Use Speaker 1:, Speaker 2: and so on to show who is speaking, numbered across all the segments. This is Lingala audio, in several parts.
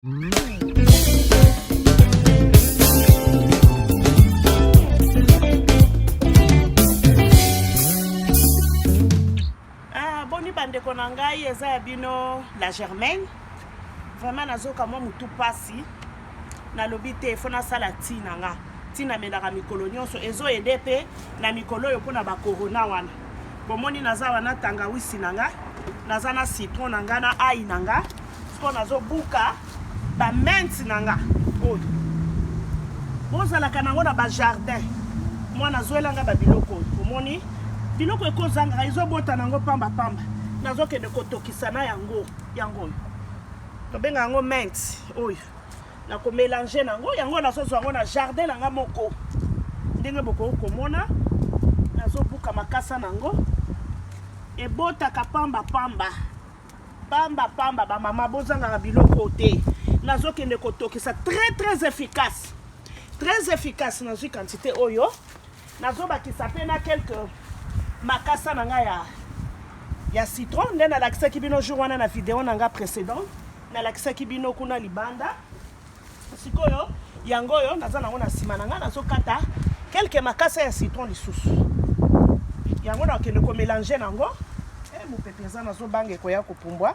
Speaker 1: Ah, boni bandeko na ngai eza ya bino la germaine vraiment nazoka mwa motu mpasi nalobi te fo nasala ti na nga ti namelaka mikolo nyonso ezoede mpe na mikolo oyo mpo na bakorona wana bomoni naza wana tangawisi na nga naza na citron na nga na ai na nga sikoyo nazobuka bamente na nga oyo bozalaka nango na bajardin mwana azwela nga babiloko oyo omoni biloko ekozangaka ezobota nango pamba pamba nazokende kotokisa na yango yango oyo tobenga yango mente oyo nakomelange nango yango nazozwa yango na jardin na nga moko ndenge bokoki komona nazobuka makasa nango ebotaka pamba pamba Pamba pamba ba mama bozangaka biloko te. Nazo kende kotokisa très très efficace. Très efficace nazwi quantité oyo. Nazo bakisa pe na quelques makasa na nga ya ya citron nde nalakisaki bino jour wana na video na nga précédent nalakisaki bino kuna libanda Sikoyo yango oyo naza nango na sima na ngai nazokata kelke makasa ya citron lisusu yango nakende komelange nango e eh, mopepe eza nazobanga ekoya kopumbwa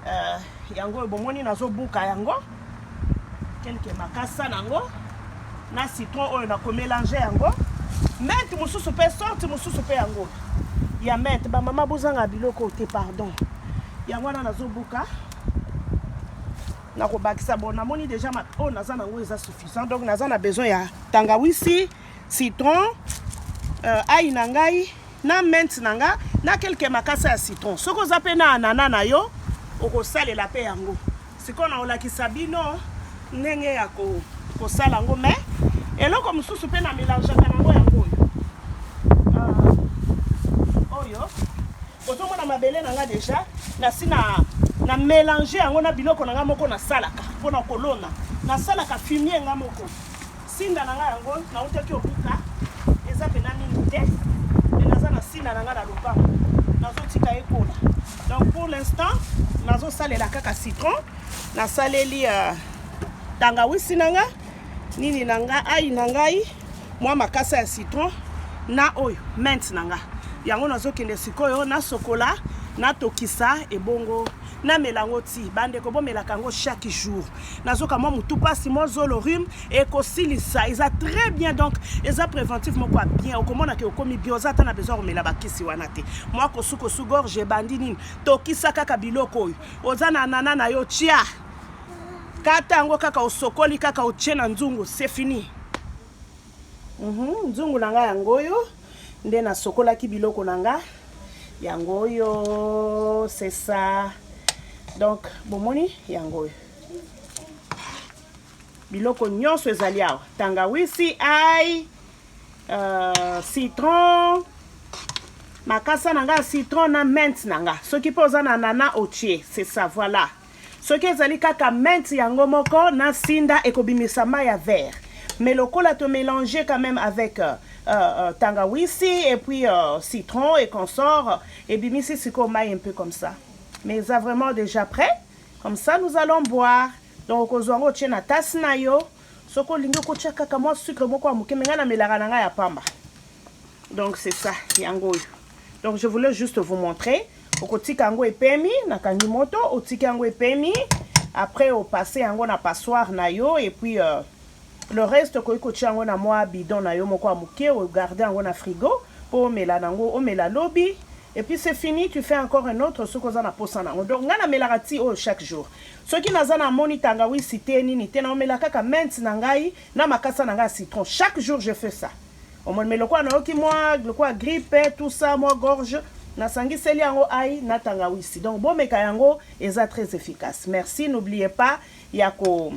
Speaker 1: uh, yango oyo bomoni nazobuka yango kelke makasa nango na citron oyo nakomelange yango mente mosusu mpe sorte mosusu mpe yango ya mente bamama bozanga biloko te pardon yango wana nazobuka na kobakisa bon namoni deja ma oyo oh, naza nango eza suffisant donc naza na besoin ya tangawisi citron euh, ai na ngai na mente na nga na kelke makasa ya citron soki oza mpe na anana na yo okosalela mpe yango sikoyo nakolakisa bino ndenge ya kosala yango mai eloko mosusu mpe na melangeaka nango yango oyo euh, oyo Ozomona mabele na nga deja nasi na na melange yango na biloko na nga moko nasalaka mpo na kolona nasalaka fumie nga moko sinda na nga yango nautaki obuka eza mpena mingi te me naza na sinda na nga na lopango nazotika ekola donc pour l'instant nazosalela kaka citron nasaleli uh, tangawisi na nga nini na nga ai na ngai mwa makasa ya citron na oyo mint na nga yango nazokende sikoyo nasokola natokisa ebongo namela yango ti bandeko bomelaka yango chaque jour nazoka mwa motu mpasi mwa zolo rhume ekosilisa eza très bien donc eza préventif moko ya bien okomona ke okomi bien oza ata na besoin komela bakisi wana te mwa kosukosu gorge ebandi nini tokisa kaka biloko oyo oza na anana na yo tia kata yango kaka osokoli kaka otie na nzungu c'est fini mm -hmm. nzungu na ngai yango oyo nde nasokolaki biloko na ngai yango oyo c'est ça donc bomoni yango oyo biloko nyonso ezali awa tangawisi ai uh, citron makasa na ngai ya citron na mente na ngai soki mpe oza na nana otie c'est ça voilà Soki ezali kaka menthe yango moko na sinda ekobimisa mayi ya vert. Mais lokola to melanger quand meme avec euh, euh, tangawisi et puis euh, citron et consort, ebimisi sikoyo mayi un peu comme ça. Mais eza vraiment dejà prêt. Comme ça nous allons boire. Donc okozwa yango otie na tasse na yo. Soki olingi okotia kaka mwa sucre moko ya moke, mais ngai namelaka na ngai ya pamba. Donc c'est ça, yango oyo. Donc je voulais juste vous montrer. okotika yango epemi na kangi moto otiki yango epemi après opasse yango na passoire na yo et puis euh, le reste okoki kotia yango na mwa bidon na yo moko ya moke ogarde yango na frigo mpo omela nango omela lobi et puis c'est fini tu fais encore un autre soki oza na posa nango donc ngai namelaka ti oyo chaque jour soki naza na moni tangawisi te nini te naomela kaka menthe na ngai na makasa na ngai ya citron chaque jour je fais ça omoni me lokola nayoki mwa lokola gripe tout ça mwa gorge nasangiseli yango ai na tangawisi donc bomeka yango eza très efficace merci n'oubliez pas ya ko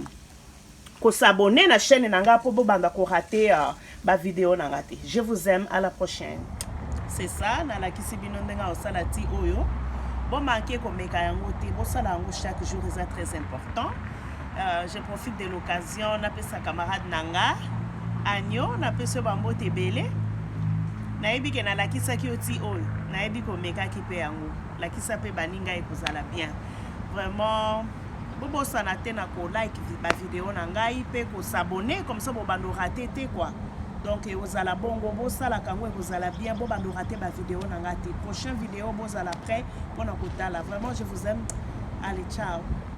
Speaker 1: kosabone na chaîne na ngai mpo bobanda korate uh, bavideo na ngai te je vous aime à la prochaine c'est ça nalakisi bino ndenge akosala ti oyo bomanke komeka yango te bosala yango chaque jour eza très important Euh, je profite de l'occasion napesa camarade na nga agno napesi yo bambote ebele nayebi ke nalakisaki yo ti oyo nayebi komekaki mpe yango lakisa mpe baninga ye kozala bien vraiment bobosana te na kolike bavideo na ngai mpe kosabone comme ça bobando rate te kua donc ekozala bongo bosalaka yango ekozala bien bobando rate bavideo na ngai te prochain video bozala prêt mpona kotala vraiment je vous aime allez ciao